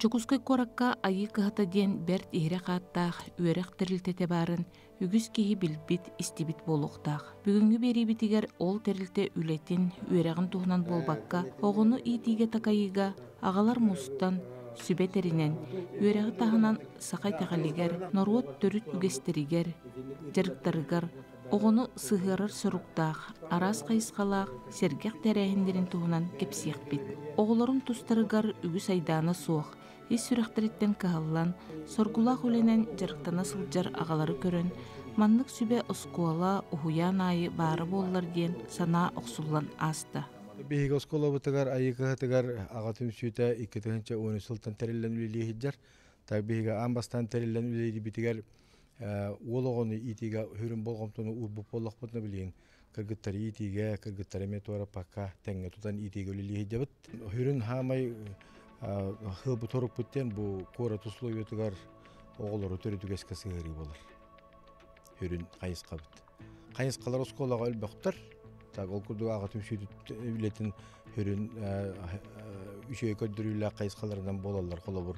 Дьокуускай куоракка Айыы кыһата диэн бэрт иһирэх ааттаах үөрэх тэрилтэтэ баарын үгүс киһи билбит, истибит буолуохтаах. Бүгүҥҥү биэриибитигэр ол тэрилтэ үлэтин, үөрэҕин туһунан буолбакка, оҕону иитиигэ-такайыыга Аҕалар мустан, сүбэ тэринэн, үөрэҕи таһынан саха итэҕэлигэр, норуот төрүт үгэстэригэр, дьарыктарыгар оҕону сыһыарар соруктаах араас хайысхалаах сэргэх тэрээһиннэрин туһунан кэпсиэхпит. Оҕолорун тустарыгар үгүс айдаана суох, ис сүрэхтэриттэн кыһаллан, соргулаах үлэнэн дьарыктана сылдьар аҕалары көрөн, маннык сүбэ оскуола, уһуйаан аайы баара буоллар диэн санаа охсуллан ааста. Биһиги оскуолабытыгар Айыыкыһатыгар аҕа түмсүүтэ икки тыһыынча уон үс сылтан тэриллэн үлэлии сылдьар. Так биһиги аан бастаан тэриллэн үлэлиирбитигэр уол оҕону иитиигэ сүрүн болҕомтону уурбут буоллахпытына билиҥ кыргыттары иитиигэ, кыргыттары эмиэ туораппакка тэҥҥэ тутан иитиигэ үлэлии сылдьабыт. Сүрүн хаамай хыылбы торукпут диэн бу куорат условиятыгар оҕолору төрүт үгэскэ сыһыарыы буолар. Сүрүн хайысхабыт. хайысхалар оскуолаҕа өлбөхтөр так ол курдук аҕатын сүүтүт үлэтин хүрүн үчүгэй көрдөрүүлээх хайысхаларынан буолаллар холобур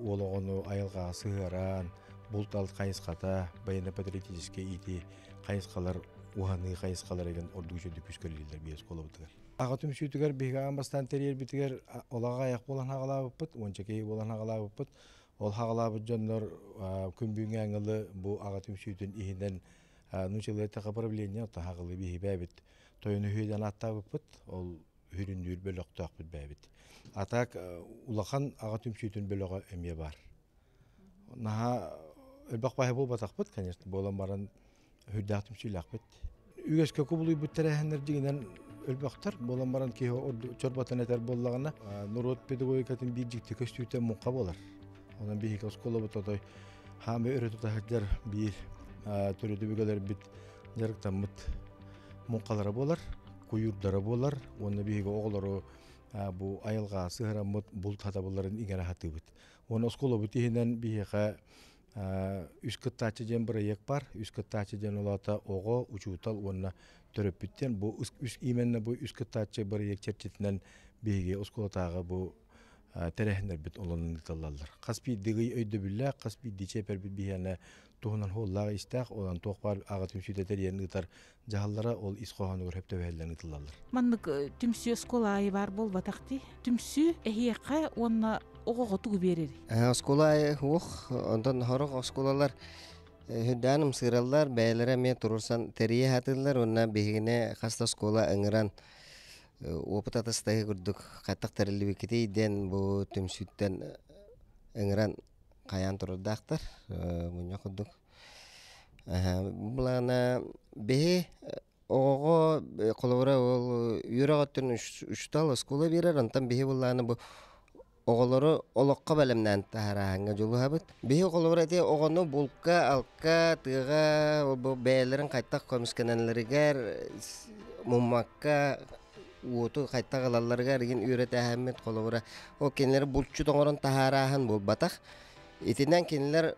уол оҕону айылҕаҕа сыһыаран булт алт хайысхата военно-патриотическай иити хайысхалар уһаныы хайысхалар игин ордук үчүгэй күс көрүллэр биир оскуолабытыгар аҕа түмсүүтүгэр биһиги аан бастаан тэрийэрбитигэр олаҕа айах буолан аҕалаабыппыт уонча киһи буолан аҕалаабыппыт Ол хаҕалаабыт дьоннор күн бүгүҥҥү ааҥылы бу аҕа түмсүүтүн иһинэн ну человека управления таһаҕылы биһибээбит тойон үһүйэдэн ааттаабыппыт ол үрүндүүр бөлөхтөөхпүт бээбит а так улахан аҕа түмсүүтүн бөлөҕө эмиэ баар наһаа элбэх баһа буолбатахпыт конечно буолан баран Үрдээх түмсүүлээхпит. Үгэскэ кубулуйбут тэрээһиннэр дьиҥинэн өлбөхтөр. Буолан баран киһи чорботон этэр буоллаҕына, норуот педагогикатын биир дьикти көстүүтэ муҥха буолар. Онон биһиги оскуолабыт отой хаамы өрө тута сылдьар биир төрүт өбүгэлэрбит дьарыктаммыт муҥхалара буолар, куйуурдара буолар уонна биһиги оҕолору бу айылҕа сыһыраммыт булт хатабылларын иҥэрэ сатыыбыт. Уонна оскуолабыт иһинэн биһиэхэ үс кыттааччы диэн бырайыак бар үс кыттааччы диэн олоото оҕо учуутал уонна төрөппүттэр бу үс именно бу үс кыттааччы бырайыак чэрчитинэн биһиги оскуолатааҕы бу тэрээһиннэрбит олонон ыытыллаллар хас биирдиги өйдөбүллээх хас биирдии чээпэрбит биһиэнэ туһунан хуоллаах истээх онон туох баар аҕа түмсүү тэтэриэн ыытар Дьаһаллара ол ис хоһоонугар хөп төбөһөллөн ытылаллар. Маннык түмсүү оскуола аайы баар буолбатах дии. Түмсүү эһиэхэ уонна оҕоҕо тугу биэрэр? Оскуола аайы уох, онтон хорох оскуолалар Хүрдээн ымсыыраллар, бэйэлэрэ эмиэ турурсан тэрийэ хатыыллар уонна биһигини хаста оскуола ыҥыран опыт атастайы курдук хаттах тэриллибиккитий диэн бу түмсүүттэн ыҥыран хайаан турардаахтар мунньах курдук былаана биһи оҕоҕо холобура ол үөрэҕиттэн учуутал оскуола биэрэр онтон биһи былаана бу оҕолору олоххо бэлэмнээн таһаарааһыҥҥа дьулуһабыт биһи холобура ити оҕону булка алка тыаҕа бу бэйэлэрин хайтах көмүскэнэллэригэр муммакка уоту хайтах ылалларыгар игин үөрэтээһиммит холобура ол кинилэри булчут оҥорон таһаарааһын буолбатах итинэн кинилэр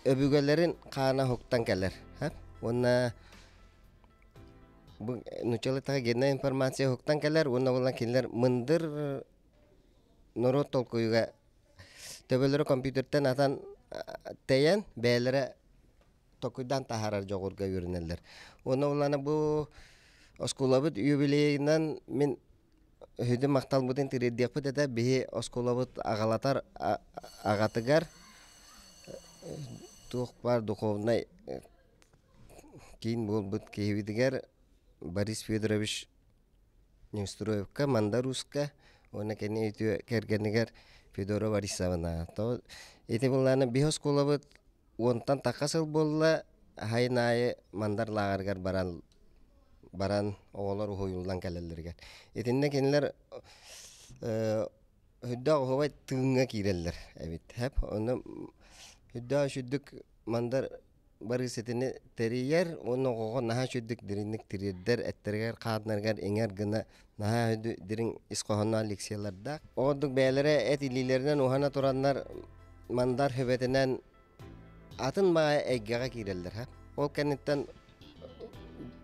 өбүгэлэрин хаана уһуктан кэлэр уонна бу нууччалартан генная информация уһуктан кэлэр уонна буолан кинилэр мындыр норуот толкуйга төбөлөрө компьютертан атан тэйэн бэйэлэрэ толкуйдаан таһаарар дьоҕурга үөрэнэллэр уонна улаана бу оскуолабыт юбилейынан мин Үһүдү махталбытын тириэрдиэхпит этэ биһи оскуолабыт аҕалатар аҕатыгар туох баар духовнай киин буолбут киһибитигэр Борис Федорович Неустроевка мандар ууска уонна кини үтүө кэргэнигэр Федора Борисовна ити былаана биһи оскуолабыт Уонтан такка сыл буолла аһайын аайы Мандар лааҕырыгар баран баран оҕолор уһуйуллан кэлэллэригэр. Итиннэ кинилэр үрдээх уһубай тыыҥҥа киирэллэр эбит эп онно үрдээх үчүдүк Мандар барыы ситини тэрийэр уонна оҕоҕо наһаа үчүдүк дириҥник тириэрдэр эттэригэр хааннарыгар иҥэр гына наһаа үһү дириҥ ис хоһоонноох лекциялардаах ол ордук бэйэлэрэ эт илиилэринэн уһана тураннар мандар хөбөтүнэн атын баҕайы эйгэҕэ киирэллэр ха ол кэнниттэн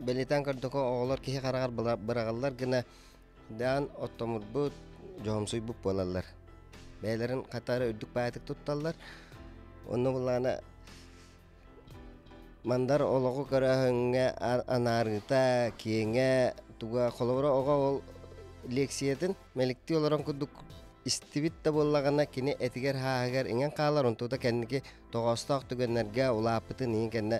бэлиэтээн көрдөххө оҕолор киһи хараҕар быраҕаллар гына даан оттомурбут дьоһумсуйбут буолаллар бэйэлэрин хатары үрдүк баайытык тутталлар онно буоллаҕына Мандар олоҕу кыраһыҥҥа анаарыыта киэҥэ туга холобура оҕо ол лиэксийэтин мэликтии олорон курдук истибит да буоллаҕына кини этигэр хааһыгар иҥэн хаалар онтуута кэнники тоҕоостоох түгэннэргэ улааппытын иһин кэннэ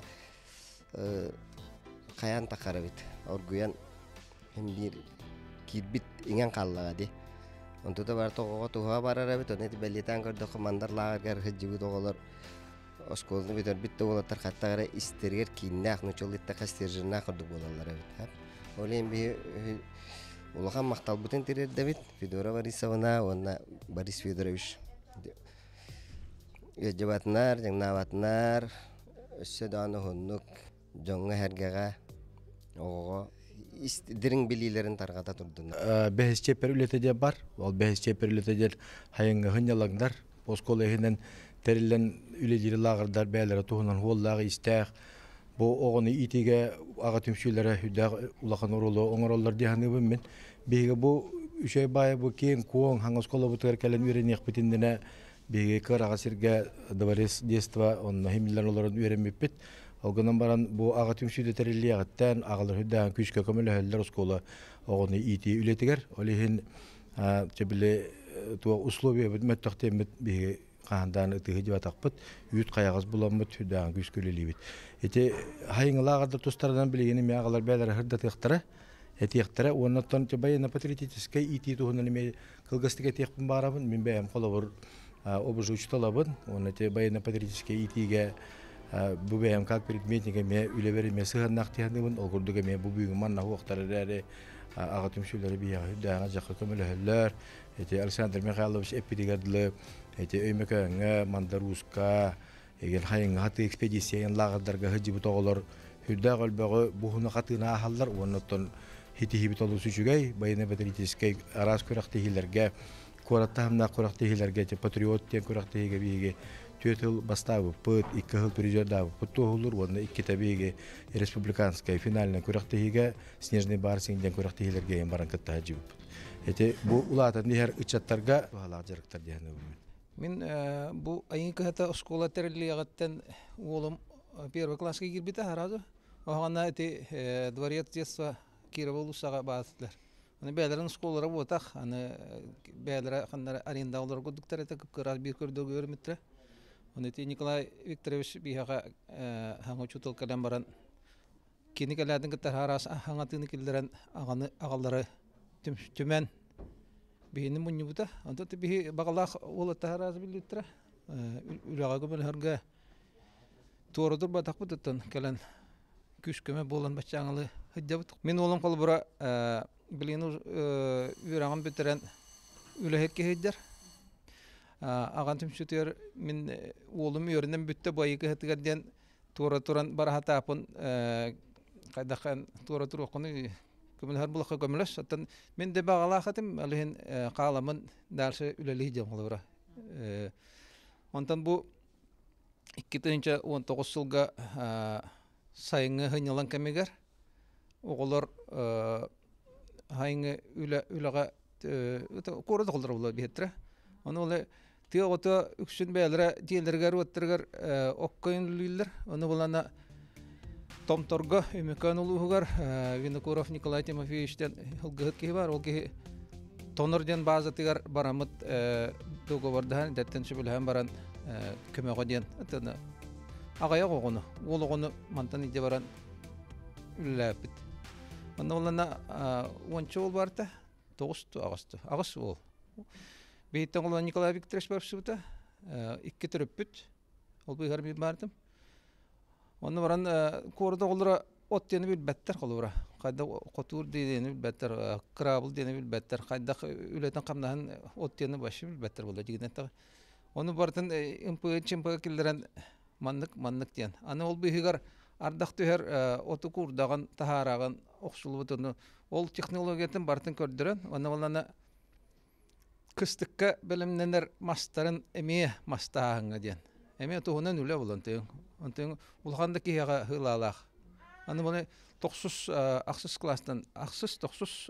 хайаан таххар эбит оргуйан биир киирбит иҥэн хааллаҕа дии онтуута бары тоҕоҕо туһа барар эбит ону ити бэлиэтээн көрдөххө мандар лааҕырыгар сылдьыбыт оҕолор оскуоланы бүтэрбит да уолаттар хаттах эрэ истэригэр кииннээх нучулыттаха стержернаах ордук буолаллар эбит ол иһин биһи улахан махталбытын тириэрдэбит федора борисовна уонна борис федорович ыалдьыбатынар дьаҥнаабатынар өссө даҕаны уһуннук дьоҥҥо-сэргэҕэ оҕоҕо дириҥ билиилэрин тарҕата турдунар бэһис чиэппэр үлэтэ диэ бар ол бэһис чиэппэр үлэтэ диэн хайыҥҥаһын ялаҥдар оскуола иһинэн тэриллэн үлэлиири лааҕырдар бэйэлэрэ туһунан уоллаах-иистээх бу оҕону иитиигэ аҕа түмсүүлэрэ үрдээх улахан оруолу оҥороллор дии саныыбын мин биһиги бу үчүгэй баайы бу киэҥ куоҥ хаҥас оскуолабытыгар кэлэн үөрэниэхпит иннинэ Биһиги кыраҕа сиргэ Дворец детства онно химиллэр олорон үөрэммиппит. Ол гынан баран бу аҕа түмсүүдэ тэриллиэҕиттэн аҕалар үрдээн күүскэ көмөлөһөллөр оскуола оҕону иитии үлэтигэр. Ол иһин чэбили туох условиябыт мөттөхтэммит биһиги хаандаан ытыһы дьыбатахпыт, үүт хайаҕас буламмыт, үрдээн күүскэ үлэлиибит. Ити хайыҥылааҕар да тустарынан билигин эмиэ аҕалар бэйэлэрэ хырдатыахтара, этиэхтэрэ уонна оттон чабайы на патриотическай иитии туһунан эмиэ кылгастык этиэхпин баҕарабын мин бэйэм холобур обувь учууталабын уонна те военно-патриотическай иитиигэ бу бэйэм как предметник эмиэ үлэбэр эмиэ сыһыаннаах тиһанныбын ол курдук эмиэ бу бүгүн манна уохтар эрээри аҕа түмсүүлэри биһиэхэ үрдээҕэ дьахха көмөлөһөллөр ити Александр Михайлович эппитигэр дылы ити Өймөкөөҥҥө Мандарууска Эгин хайыҥҥаһаты экспедициянан лааҕырдарга сылдьыбыт оҕолор үрдээх өлбөҕү буһуна хатыына аһаллар уоннаттан хитиһибит олус үчүгэй военно-патриотическай араас күрэхтэһиилэргэ куорат таһымнаах күрэхтэһиилэргэ патриот диэн күрэхтэһиигэ биһиги түөрт сыл бастаабыппыт икки сыл призердаабыппыт туоһуллуур уонна иккитэ биһиги республиканскай финальнай күрэхтэһиигэ снежный барсинг диэн күрэхтэһиилэргэ ийэн баран кытта сылдьыбыппыт ити бу улаатан иһэр ыччаттарга туһалаах дьарыктар диэн Мин бу айыы кыһата оскуола тэриллиэҕиттэн уолум первый класска киирбитэ сразу оһоҕуна ити дворец детства Кирова улуссаҕа баартылар. Аны бэйэлэрин оскуолалара буотах, аны бэйэлэрэ ханнары арендаҕа олорор курдуктар этэ кыра биир көрдөргө үөрэммиттэрэ. Аны ити Николай Викторович биһиэхэ саҥа учуутал кэлэн баран Кини кэлээтин кытта араас хаҥатыыны киллэрэн аҕаны аҕалары түмэн биһини мунньубута. Онто биһи баҕалаах уол аттаһараас биллиттэрэ үлэҕэ көмөлөһөргө туора турбатахпыт оттон кэлэн күүс-көмө буолан баччааҥылы сылдьабыт. Мин уолум холобура билигин үөрэҕин бүтэрэн үлэһиккэ сылдьар. Аҕам түмсүүтүгэр мин уолум үөрэнэн бүттэ бу айыы кыһатыгар диэн туора туран бараһатаапын хайдаххан туора туруоххунуй көмөлөһөр булахха көмөлөс оттон мин да баҕалаах этим алыһын хааламын дальше үлэлии диэн холобура онтон бу икки тыһыынча он тоҕус сылга сайыҥҥы хыньылан кэмигэр оҕолор хайыңы үлэ үлэҕэ куора да холлора булла биһиттэрэ ону ол тыа оҕото үксүн бэйэлэрэ дьиэлэригэр уоттарыгар оккойон үллүүллэр ону булана томторго үмүкөөн улууһугар винокуров николай тимофеевичтэн ылгыһыт киһи бар ол киһи тонор диэн баазатыгар барамыт договордаһан идэттэн сөбүлэһэн баран көмөҕө диэн аҕайах оҕону уол оҕону мантан илдьэ баран үлэлээппит. Онно улана уонча уол барта тоҕус ту аҕыс ту аҕыс уол. Биһиттэн улана Николай Викторович барыпсыбыта икки төрөппүт ол быыһар биир баардым. Онно баран куорда оҕолоро от диэни билбэттэр холура. Хайда хотуур диэни билбэттэр, кыраабыл диэни билбэттэр, хайдах үлэтин хамнаһын от диэни башы билбэттэр була дигинэтэ. Ону бартын ымпыгы чымпыгы киллэрэн маннык-маннык диэн. Аны ол быыһыгар ардах түһэр оту куурдаҕын, таһаараҕын охсуллубутуну ол технологиятын барытын көрдөрөн, уонна уонна кыстыкка бэлэмнэнэр мастарын эмиэ мастааһыҥҥа диэн. Эмиэ туһунан үлэ булан тыыҥ. Онтуҥ улахан да киһиэхэ хыылаалаах. Аны бу тохсус ахсыс кластан ахсыс-тохсус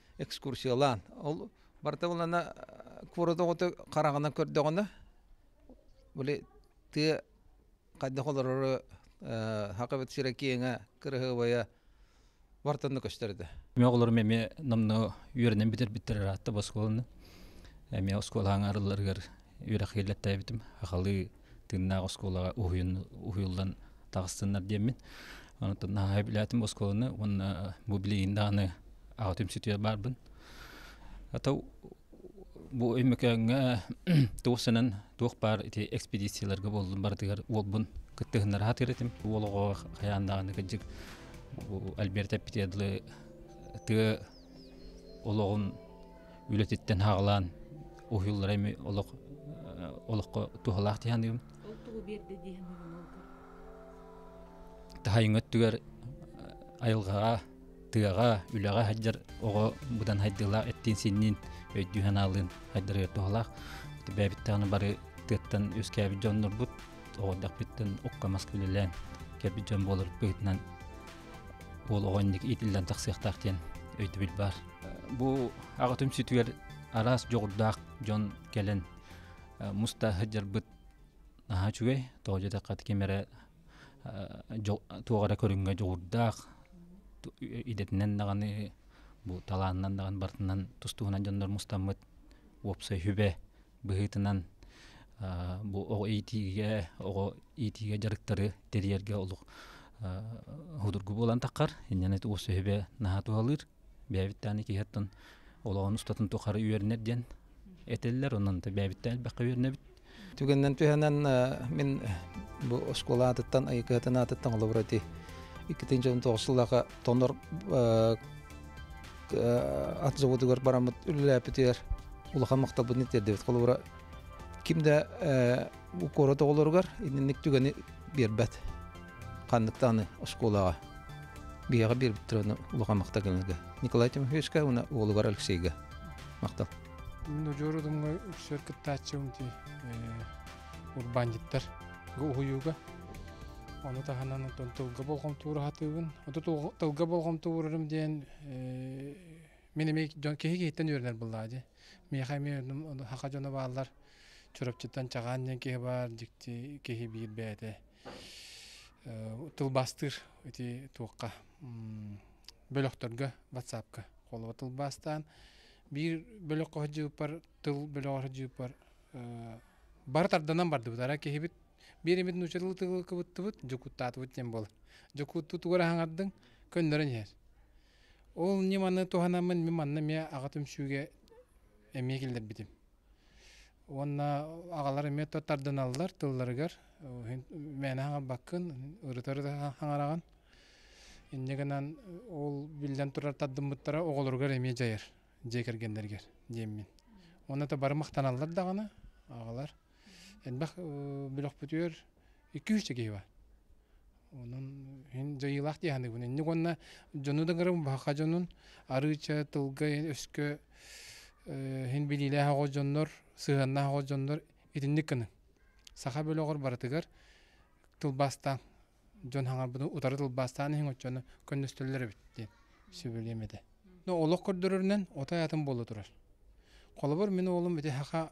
экскурсиялаан ол барыта булана куорат оҕото хараҕынан көрдөҕүнэ били тыа хайдах олорору хакабыт сира киэҥэ кыраһыабайа бартанна көстөр этэ мен оҕолорум эмиэ намны үөрэнэн бүтэрбиттэр аатта оскуоланы эмиэ оскуолаһаҥ арылларыгар үөрэх киллэттээбитим ахалыы тыыннаах оскуолаҕа уһуйуллан таҕыстыннар диэммин онтон наһаа билээтим оскуоланы уонна бу билигин даҕаны аҕа түмсүтүгэр барбын ата бу Өймөкөөҥҥө туох санан туох баар ити экспедицияларга буоллун барытыгар уолбун кытта ыһыннар аһатыыр этим уол оҕоҕо хайаан даҕаны кырдьык Альберт эппитиэдылы тыа олоҕун үлэтиттэн хаалаан уһуллара эми олох олоххо туһалаах тиһаныым ол тугу биэрдэ дии саныыбын ол таһайыҥ өттүгэр айылҕаҕа тыаҕа үлэҕэ сылдьар оҕо быдан хайдыылаах эттиин синниин өйдүү санаалыын хайдарыгар туһалаах бэбиттэҕин бары тыаттан үөскээбит дьоннорбут оҕордохпиттан укка маска үлэлээн кэлбит дьон буолар быһытынан уол оҕо инник иитиллэн тахсыахтаах диэн өйдөбүл баар бу аҕа түмсүтүгэр араас дьоҕурдаах дьон кэлэн муста сыдьарбыт наһаа үчүгэй тоҕо дьатахха ким эрэ туох эрэ көрүҥҥэ дьоҕурдаах идэтинэн даҕаны бу талаанынан даҕаны барытынан тус-туһунан дьоннор мустаммыт уопсай сүбэ быһыытынан бу оҕо иитиигэ оҕо иитиигэ дьарыктары тэрийэргэ олох судургу буолан таххар инньэни уопсай сүбэ наһаа туһалыыр бэйэбиттээн икки хаттан олоҕун устатын тухары үөрэнэр диэн этэллэр онон бэйэбиттэн элбэххэ үөрэнэбит түгэннэн түһэнэн мин бу оскуола аатыттан айыкыһатын аатыттан олобура ити иккитин дьон тоҕус сыллаха тонор ат заводугар бараммыт үлэлээппитигэр улахан махталбын итиэрдибит холобура ким да укуора оҕолоругар инник түгэни биэрбэт ханныктан аны оскуолаҕа биһиэхэ биэрбиттэр ону улахан махтагыныга Николай Тимофеевичка уонна уолугар Алексейга махтал Ножору думга үсөр кыттааччыбын ти урбандиттар уһуюга оны таһынан оттон тылга болҕомтуура хатыыбын оту тылга болҕомтуурум диэн мен эме дьон киһи киһиттэн үөрэнэр быллаади миэхэ эмиэ хаха дьоно бааллар чурапчыттан чагаан диэн киһи баар дикти киһи биир бээтэ тылбаастыыр ити туохха бөлөхтөргө ватсапка холуба тылбаастаан биир бөлөххө сылдьыбыппар тыл бөлөҕө сылдьыбыппар бары тарданан бардыбыт арай киһибит биир эмит нуучча тылы тылыкыбыттыбыт дьокуттаатыбыт диэн буолар дьокуттугар аһаҥардыҥ көннөрөн иһэр ол ньым аны туһанаммын мин манна эмиэ аҕа түмсүүгэ эмиэ киллэрбитим Уонна аҕалар эмиэ тардыналлар тылларыгар мээнэ хаҥарбаккын ырытар хаҥараҕын инньэ гынан ол биллэн турар тардыммыттара оҕолоругар эмиэ дьайар дьиэ кэргэннэригэр диэммин уонна это бары махтаналлар даҕаны аҕалар элбэх бөлөхпүтүгэр икки-үс да киһи баар Онон иһин дьайыылаах дии аһыныбын инник уонна дьону да гырым баһаха дьонун арыыча, тылга өскө иһин билиилээх оҕо дьоннор, сыһыаннаах оҕо дьоннор итинник гыныҥ. Саха бөлөҕөр барытыгар тылбаастааҥ. Дьон хаҥарбытын утары тылбаастаан иһиҥ оччону көннөстөллөр эбит диэн сөбүлүөм этэ. Но олох көрдөрөрүнэн ото аатын буола турар. Холобур мин уолум ити саха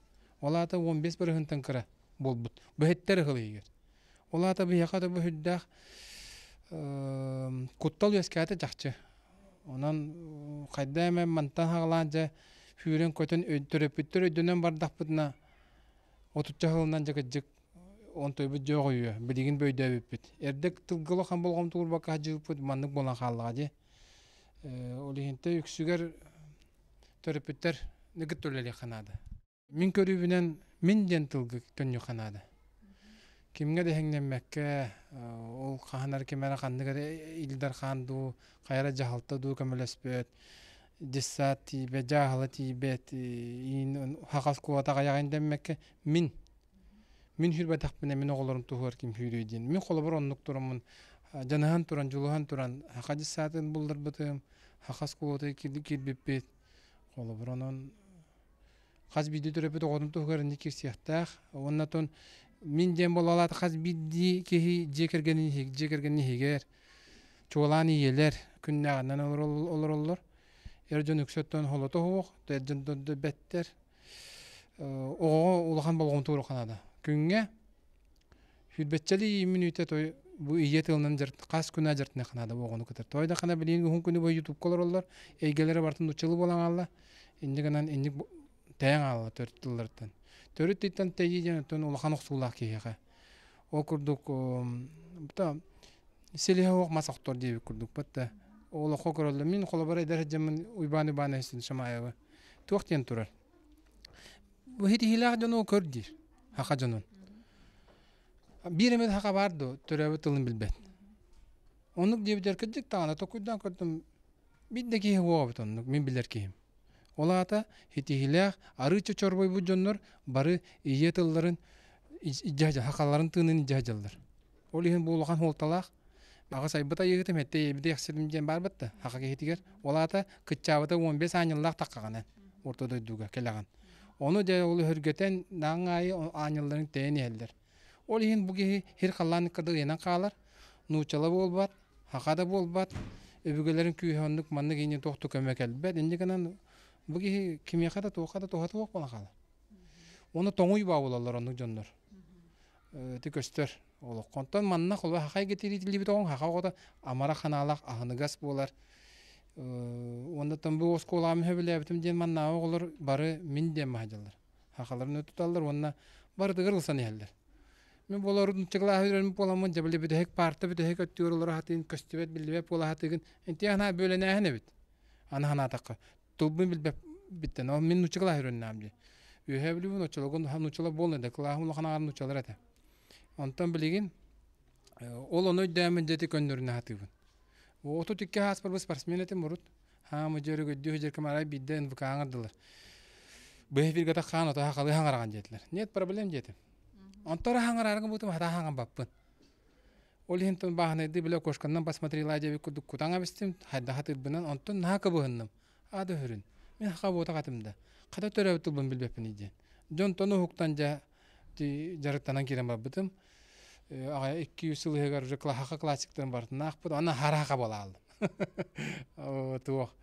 Ол аата уон биэс барыһынтан кыра буолбут. Быһыттар ыһылыйыгар. Ол аата биһиэхэ да бу үрдээх куттал үөскээтэ чахчы. Онон хайда эмэ мантан хаҕалаан дьэ сүүрэн-көтөн төрөппүттэр өйдөнөн бардахпытына отучча сылынан дьакыддьык онтуйбут дьоох үйүө билигин бу өйдөөбүппүт. Эрдэ тылга олох ам болҕомтотугар бакка сдьыыппыт маннык буолан хааллаҕа дии. Ол иһин те үксүгэр төрөппүттэр нэгит үлэлиэххэ наада мин көрүүбүнэн мин диэн тылгы төннүөххэ наада кимҥэ да эһэҥнэммэккэ ол хаһан эрэ ким эрэ ханнык эрэ илдэр хаан дуу хайа эрэ дьаһалта дуу көмөлөспөт дьыссаат тиийбэт дьааһыла тиийбэт иин хахас куотах айаҕын дэммэккэ мин мин хүрбэтэхпинэ мин оҕолорум туһугар ким сүүрүөй диэн мин холобур оннук тураммын дьаныһан туран дьулуһан туран хаха дьыссаатын булларбытым хахас куота кирбиппит холобур онон хас биирдии төрөппүт оҕотун туһугар инник киирсиэхтээх уонна тон мин диэн буолалаат хас биирдии киһи дьиэ кэргэнин иһиг дьиэ кэргэнин иһигэр чуолаан ийэлэр күннээҕинэн олороллор эр дьон үксөттөн холото суох эр дьон дойду бэттэр оҕоҕо улахан болҕомто уруха наада күҥҥэ Сүүрбэччэли иин мүнүүтэ той бу ийэ тылынан хас күнэ жартына ханада оҕону кытар. Той да хана билин уһун күнү бой YouTube колороллор, эйгэлери бартын учылы болан алла. Индигынан индик таян алла төрүт тыллартан. Төрүт титтан тейден тон улахан оксуулаах киһиэхэ. Ол курдук бута селиһэ ох масактор диэбит курдук патта. Олохо көрөллө. Мин холобара эдэр жамын Уйбан Уйбан Эсин Шамаева. Туох диэн турар. Бу ситиһиилээх дьон ол көр диир саха дьонун. Биир эмит саха баар дуо төрөөбүт тылын билбэт. Оннук диэбитигэр кырдьык даҕаны токуйдаан көрдüm биир да киһи буолбут оннук мин билэр киһим. Ол аата ситиһиилээх арыычча чорбойбут дьоннор бары ийэ тылларын илдьэ сахаларын тыынын илдьэ сылдьаллар. Ол иһин бу улахан суолталаах. Аҕыс айбыт айыыһыты мэттэ ийэбит дэхсирим диэн баарбыт да, аха киһитигэр. Ол аата кыччаабыта уон бес аанньыллаах таккаҕынан орто дойдуга кэлэҕин. Ону дьэ ол өһөргөтөн даҕаҥ аайы аанньалларын тэйэн иһэллэр. Ол иһин бу киһи һир халлаанныкка да ыйанан хаалар, нууччала буолбат, аха да буолбат, өбүгэлэрин күүһэ оннук маннык иини туохту көмө кэлбэт. Инньэ гынан бу киһи кимиэхэ да туохха да туһатыах буолан хаалар. Уну тоҥуй баа буолаллар оннук дьоннор. ити көстөр олоххо онтон манна холуо хахай кэтириитиллибит оҕоҥ хаха оҕото амара ханаалах аһыныгас буолар уонна там бу оскуолаам сөбүлээбитим диэн маннааҕы оҕолор бары мин диэн маһадьаллар хахаларын туталлар уонна барытыгар ылсан иһэллэр мин болор нучча кылаас үөрэммит буоламмын дьабылы бүтэһик парта бүтэһик өттүгэр олор аһатыын көстүбэт биллибэт буола аһатыыгын инти анаа бүөлэнээһин эбит аны санаатахха Туббун билбэппиттэн ол мин нучча кылааһырыннаам дии үөһээ бүлүүбүн оччолоргун хаһан нуччалар буолла да кылааһым улаханааҕар нуччалар этэ онтон билигин ол ону өйдөөмүн дьэти көннөрүнэ сатыыбын отут икки ааспарбын спортсмен этим урут хаама дьөр өгүйдүү сыдьыр кымарай биирдэ нвк аңардылар быһа биргата хаан ото халы хаҥараҕан диэтилэр нет проблем диэтим онтон хаҥарарга буутум хата хаҥарбаппын Ол иһин тон бааһынайды биле окошканнан посмотрела дьэбит курдук кутаҥ абыстым, хайдах атыырбынан, онтон наһаа кыбыһынным. Ада өһүрүн. Мин хаха буота катымда. Хата төрөбүт тылбын билбеппин идиэн. Дьон тону уһуктан дьа жарыттанан кирен барбытым. Аҕа икки үс сыл иһигэр уже клаһаха классиктарын бартынаахпыт, аны хараха буолаалым. Туох.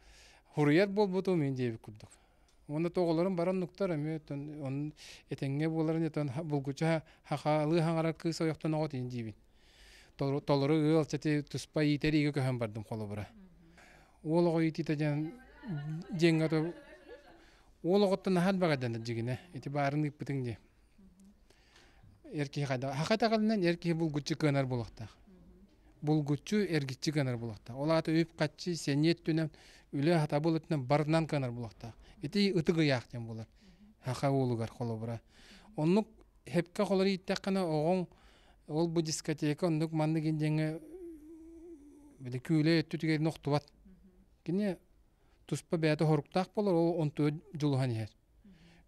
Хуруйар буолбуту мин диэбит курдук. Уонна тоҕолорум баран нуктар эмиэ онон этэҥҥэ буоларын этэн булгуча хахаалыы хаҥарар кыыс ойохтон оҕот ини диибин толору ыалчаты туспа иитэр иигэ көһөн бардым холобура уол оҕо иитиитэ диэн дьиэҥҥэ ото уол оҕоттон наһаа баҕайдан дьигинэ ити баарын ыыппытыҥ дии эр киһи хайдах хата эр киһи булгуччу кыанар буолуохтаах булгуччу эргиччи гынар булахтаах ол аата үп-харчы сэниэ өттүнэн үлэ хатабыл өттүнэн барынан гынар булахтаах ити ытык ыйаах диэн булар хаха уолугар холобура оннук хепке холор ииттэххинэ оҕоҥ ол бу дискотека оннук маннык индиэҥэ били күүлэ өттүтүгэр охтубат кини туспа бэйэтэ хоруктаах болор ол он төрт дьулуһан иһэр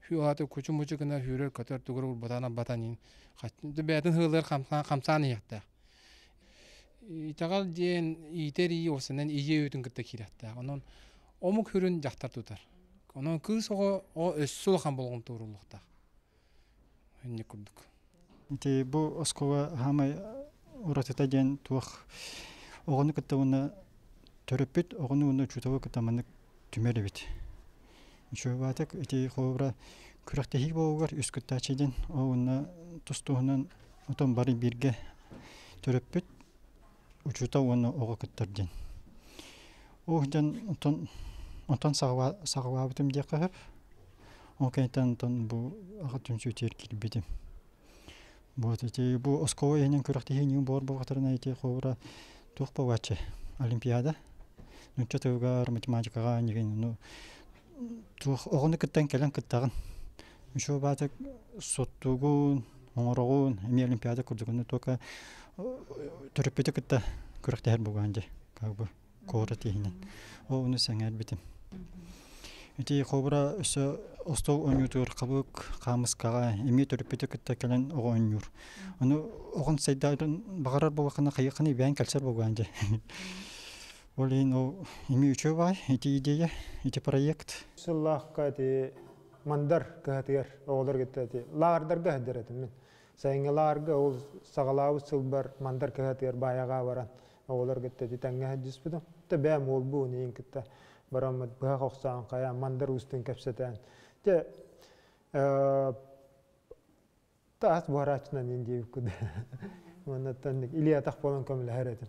Хүү аата кучу-мучу гына сүүрэр көтөр тугурур бутана батанын бэйэтин сыалыгар хамсаан иһиэхтээх итэҕэл диэн иитэр ии осанан ийэ үүтүн кытта киирэхтээх онон омук сүрүн дьахтар тутар онон кыыс оҕо өссө улахан болҕомто ууруллуохтаах инник курдук Ити бу оскуола саамай уратыта диэн туох оҕону кытта уонна төрөппүт оҕону уонна учууталы кытта маннык түмэр эбит. Учуобаатык ити холобура күрэхтэһии буолугар үс кыттааччы диэн ол уонна тус туһунан отон бары бииргэ төрөппүт учуутал уонна оҕо кыттар диэн ух дьон онтон онтон саҕалаабытым диэххэ ол кэнниттэн онтон бу аҕа түмсүүтүгэр киирбитим вот ити бу оскуола иһинэн күрэхтэһиини буор буолбатарына ити холбура туох бааччы олимпиада нуучча тылыгар математикаҕа нигин ну туох оҕону кыттан кэлэн кыттаҕын еще баата соттугун оҥороҕун эмиэ олимпиада курдугуну только төрөппүтү кытта күрэхтэһэр бугаан дьэ как бы куорат иһинэн ол ону сэҥээрбитим ити холбура өссө остол оонньуутугар хабык хаамыскаҕа эмиэ төрөппүтү кытта кэлэн оҕо оонньуур ону оҕон сайдарын баҕарар буолаххына хайыхханы ибээн кэлсэр буолгаан дьэ Ол иһин ол эмиэ үчүгэй баай ити идея, ити проект. Сыллаахха ити Мандар кыһатыгар оҕолор кытта ити лааҕырдарга сылдьар этим мин. Сайыҥҥы лааҕырга ол саҕалаабыт сылбар Мандар кыһатыгар баайаҕа баран оҕолор кытта ити тэҥҥэ сылдьыспытым. То бэйэм уолбун иин кытта бараммыт быһах охсоон хайа Мандар уустун кэпсэтэн. Дьэ таас буһарааччынан иин диэбиккин. Маннаттан Илья атах буолан көмөлөһөр этим.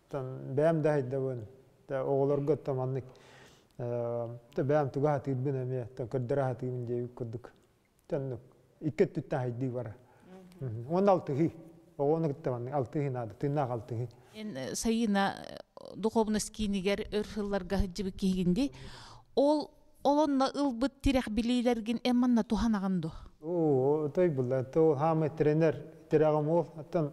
бэйэм да хайдабын оҕолорго то маннык бэйэм туга сатыырбын эмиэ көрдөрө сатыыбын дии курдук икки өттүттэн хайдыы бара уонна алтыһыы оҕону кытта маннык алтыһыы наада тыыннаах алтыһыы эн сайыына духовность киинигэр өр сылларга сылдьыбыт киһигин дии ол олонно ылбыт тирэх билиилэргин эн манна туһанаҕын ду оо той булла то хаамай тренер тирэҕим ол оттон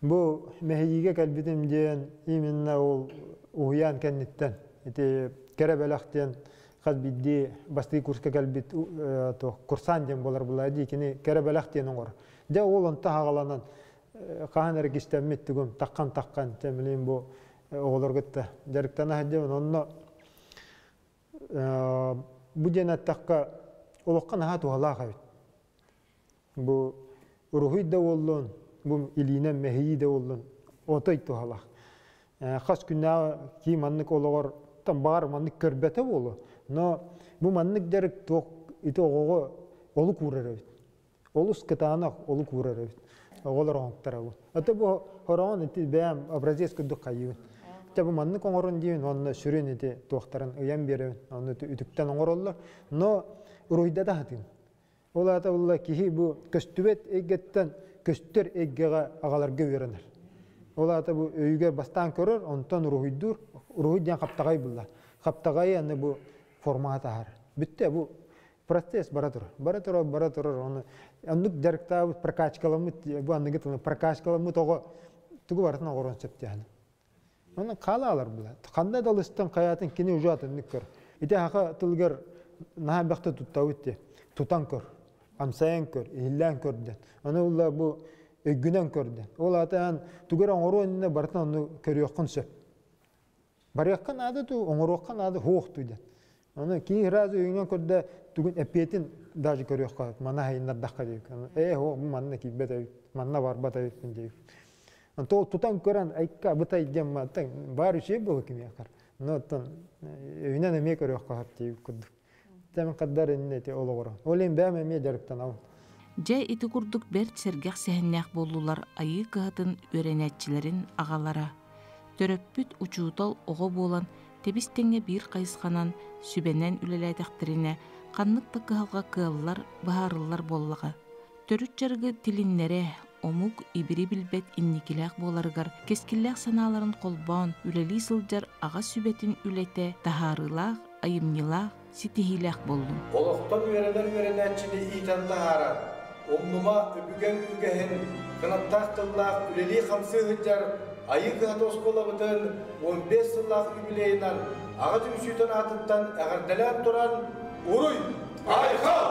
Бу мэһийиигэ кэлбитим диэн именно ол уһуйаан кэнниттэн ити кэрэ бэлэх диэн хас биирдии бастыы курска кэлбит курсант диэн буолар булаа дии кини кэрэ бэлэх диэн оҥор дьэ ол онто хагаланан хаһан эрэ кистэммит тугум таххан таххан тэмилин бу оҕолор кытта дьарыктана сылдьабын онно бу диэн эттэххэ олохха наһаа туһалаах эбит бу уруһуй да буоллун бу илиинэн мэһийии да буоллун отой туһалаах хас күннээҕи кии маннык олоҕор там баҕар маннык көрбөтө буолуо но бу маннык дьарык туох ити оҕоҕо олук уурар эбит олус кытаанах олук уурар эбит оҕолор оҥотторобут а то бу хороҕон ити бэйэм образец курдук хайыыбын чэ бу маннык оҥорун диибин уонна сүрүн ити туохтарын ыйан биэрэбин ону үтүктэн оҥороллор но уруһуйдата сатыым Ол аата улла киһи бу көстүбэт эйгэттэн көстөр эйгэҕэ аҕаларга үөрэнэр. Ол аата бу өйүгэр бастаан көрөр, онтон уруһуйдуур. Уруһуй диэн хаптаҕай булла. Хаптаҕайы аны бу формаҕа таһар. Бүттэ бу процесс бара турар. Бара турар, бара турар. Ону оннук дьарыктаабыт, прокачкаламмыт, бу аныгы тылы прокачкаламмыт оҕо тугу барытын оҕоруон сөптөөх. Онон хаалаалар була. Ханна да лыстан хаятын кини уже атыннык көр. Ити хаха тылгар наһаа бэхте туттабыт те. Тутан көр. Амсайан көр, иһиллээн көрдөн. Аны улла бу өггүнэн көрдөн. Ол атаан тугар оңору өнүнэ барытын ону көрүөххүн сөп. Барыахқа наада ту, оңоруохха наада хуох туйдан. Аны киин раз өйүнэн көрдө тугун эппиэтин даже көрүөххэ манна хайыннардахха диик ээ о бу манна киирбэт эбит манна барбат эбиппин диир то тутан көрөн айка бытай гемматтан бар үчей было кимиэхэр но оттон өйүнэн эмиэ көрүөххэ хап диир курдук тем қаддар иннети олоғоро олин бәм эмиэ жарыптан ал Дьэ ити курдук бэрт сэргэх сэһэннээх буоллулар Айыы кыһатын үөрэнээччилэрин аҕалара, төрөппүт учуутал оҕо буолан тэбис-тэҥҥэ биир хайысханан сүбэнэн үлэлээтэхтэринэ ханнык да кыһалҕа кыаллар быһаарыллар буоллаҕа. Төрүт дьарыгы тилиннэрэ, омук ибири билбэт инникилээх буоларыгар кэскиллээх санааларын холбоон үлэлии сылдьар аҕа сүбэтин үлэтэ таһаарыылаах, айымньылаах, ситиһиилээх буоллум. Олохтон үөрэнэр үөрэнээччини иитэн таһаарар, умнума үбүгэн үгэһин, кынаттаах тыллаах үлэлии-хамсыы сылдьар Айыы кыһата оскуолабытын уон биэс сыллаах юбилейынан аҕа түмсүүтэн аатыттан эҕэрдэлээн туран уруй, айхал!